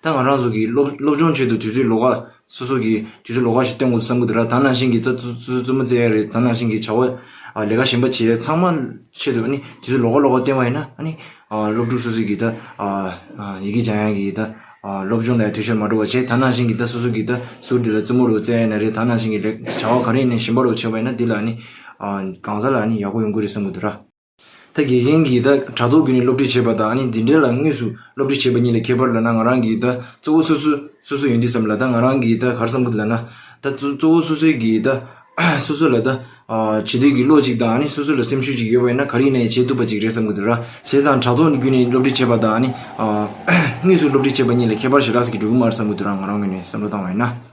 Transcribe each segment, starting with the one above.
ད་ང་རང་ཚོ་གིས་སློབ་སློབ་སྦྱོང་ཆེད་དུ་དུས་ཚོད་ལོ་ག་སོ་སོ་གིས་དུས་ཚོད་ལོ་ག་ཞིག་གཏན་དགོས་བསམ་གི་འདུག་ལ་ད་ནང་བཞིན་གྱི་རྩ་ཙུ་ཙུ་ཙུ་མོ་བཙལ་ཡ་རེད་ད་ནང་བཞིན་གྱི་བྱ་བ་ཨ་ལས་ཀ་གཞན་པ་བྱེད་ཡ་ཚང་མ་ཆེད་དུ་ཨ་ནི་དུས་ཚོད་ལོ་ག་ལོ་ག་གཏན་བ་ཡིན་ན་ཨ་ནི་སློབ་ཕྲུག་སོ་སོ་གིས་ད་ཡི་གེ་སྦྱང་ཡ་གིས་ད་སློབ་སྦྱོང་ལ་ཡ་དུས་ཤོར་མ་འགྲོ་བ་བྱེད་ད་ནང་བཞིན་གྱི་ད་སོ་སོ་གིས་ད་ཟུར་འདི་ལ་ཙུ་མོ་རུ་བཙལ་ཡ་ན་རེད་ད་ནང་བཞིན་གྱི་ལས་བྱ་བ་ག་རེ་ཡིན་ན་གཞན་པ་རུ་བྱེད་པ་ཡིན་ན་དེ་ལ་ཨ་ནི་གང་ཟག་ལ་ཨ་ནི་ཡག་པོ་ཡོང་གི་རེད་བསམ་གི་འདུག་ར། ད་དགེ་རྒན་གྱིས་ད་དྲ་ཐོག་བརྒྱུད་ནས་སློབ་ཁྲིད་བྱེད་པ་དང་ནི་འཛིན་གྲྭའི་ལ་དངོས་སུ་སློབ་ཁྲིད་བྱེད་པ་གཉིས་ལ་ཁྱད་པར་ལ་ན་ང་རང་གིས་ད་གཙོ་བོ་སོ་སོས་སོ་སོ་ཡིན་དུས་སམ་ལ་ད་ང་རང་གིས་ད་གར་བསམ་གི་འདུག་ལ་ན་ད་གཙོ་བོ་སོ་སོའི་གིས་ད་སོ་སོ་ལ་ད་བྱེད་འདོད་ཀྱི་བློ་ཅིག་དང་ནི་སོ་སོ་ལ་སེམས་ཤུགས་ཅིག་ཡོད་པ་ཡིན་ན་ག་རིག་ན་ཡང་བྱེད་ཐུབ་པ་ཅིག་རེད་བསམ་གི་འདུག་ར་བྱས་ཙང་དྲ་ཐོག་བརྒྱུད་ནས་སློབ་ཁྲིད་བྱེད་པ་དང་ནི་དངོས་སུ་སློབ་ཁྲིད་བྱེད་པ་གཉིས་ལ་ཁྱད་པར་ཞེ་དྲགས་སུ་གི་འགྲོ་གི་མ་རེད་བསམ་གི་འདུག་ར་ང་རང་ངོས་ནས་བསམ་བློ་བཏང་བ་ཡིན་ན།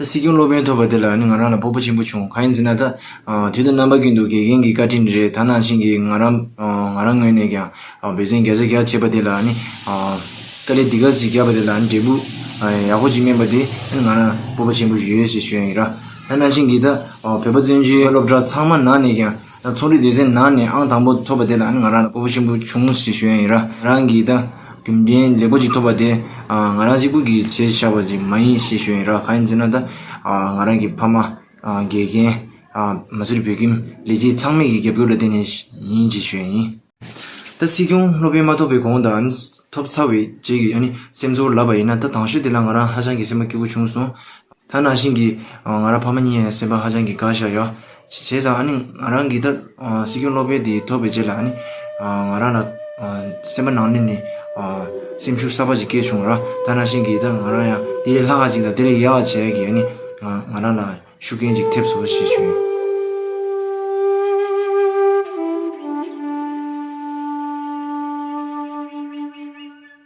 ད་སྲིད་སྐྱོང་སློབ་དཔོན་ཐོབ་པ་དེ་ལ་ནི་ང་རང་ལ་ཕོག་པ་ཆེན་པོ་བྱུང་གང་ཡིན་ཟེར་ན་ད། དུས་ད་རྣམ་པ་ཀུན་ཏུ་དགེ་རྒན་གྱི་བཀའ་དྲིན་ནི་རེད་ད་ནང་བཞིན་གྱི་ང་རང། ང་རང་ངོས་ནས་ཀྱང་འབོད་ཚིག་བརྒྱ་ཆ་བརྒྱ་བྱེད་པ་དེ་ལ་ནི། དཀའ་ལས་འདི་ག་ཟིག་བརྒྱབ་པ་དེ་ལ་ནི་འབྲས་བུ། ཡག་པོ་ཅིག་སྨིན་པ་དེ་ནི་ང་རང་སྤོབས་པ་ཆེན་པོ་ཞིག་ཡོད་ཞེས་ཞུ་ཡང་ཡིན། ད་ནང་བཞིན་གྱི་ད། བོད་པ་བཙན་བྱོལ་སློབ་གྲྭ་ཚང་མ་ནང་ནས་ཀྱང། ད་ཚོང་རིགས་སྡེ་ཚན་ནང་ནས་ཨང་དང་པོ་ཐོབ་པ་དེ་ལ་ནི་ང་རང་ལ་སྤོབས་པ་ཆེན་པོ་བྱུང་ཞེས་ཞུ་ཡང་ཡིན། རང་གིས་ད། རྒྱུ་མཚན་ལེགས་པོ་ཅིག་ཐོབ་པ་དེ་ང་རང་གཅིག་པུ་གིས་བྱས་ཤེས་བྱ་བ་ཅིག་མ་ཡིན་ཞེས་ཞུ་ཡིན་རང་ག་ཡིན་ཟེར་ན་ད་ང་རང་གི་ཕ་མ་དགེ་རྒན། མ་ཟུར་བོད་ཁྱིམ་ལས་བྱེད་ཚང་མས་ཀྱི་རྒྱབ་སྐྱོར་ལ་བརྟེན་ནས་ཡིན་ཅེས་ཞུ་ཡ་ཡིན། ད་སྲིད་སྐྱོང་སློབ་དཔོན་མ་ཐོབ་པའི་གོང་དང་ཐོབ་ཚར་བའི་རྗེས་ཀྱི་སེམས་ཚོར་ལབ་པ་ཡིན་ན་ད་དང་ཤུལ་དེ་ལ་ང་རང་ཧ་ཅང་གི་སེམས་པ་སྐྱིད་པོ་བྱུང་སོང། ཐ་ན་ཤིང་གིས་ང་རང་ཕ་མ་གཉིས་སེམས་པ་ཧ་ཅང་གི་དགའ་བཞག་ཡོད། བྱས་ཙང་ཨ་ནི་ང་རང་འགི་ལྟར་སྲིད་སྐྱོང་སློབ་དཔོན་དེ་ཐོབ་པའི་རྗེས་ལ་ཨ་ནི་ང་རང་ལ་སེམས་པ་ནང་ནས་ནི་སེམས་ཤུགས་གསར་པ་ཞིག་སྐྱེས་བྱུང། ཐ་ན་ཤིང་གིས་ད་ང་རང་ཡང་དེ་ལས་ལྷག་ཅིག་དང་དེ་ལས་ཡག་བྱས་ཀྱི་ཨ་ནི་ང་རང་ལ་ཤུགས་རྐྱེན་ཅིག་ཐེབས་སོ་ཞེས་བྱུང།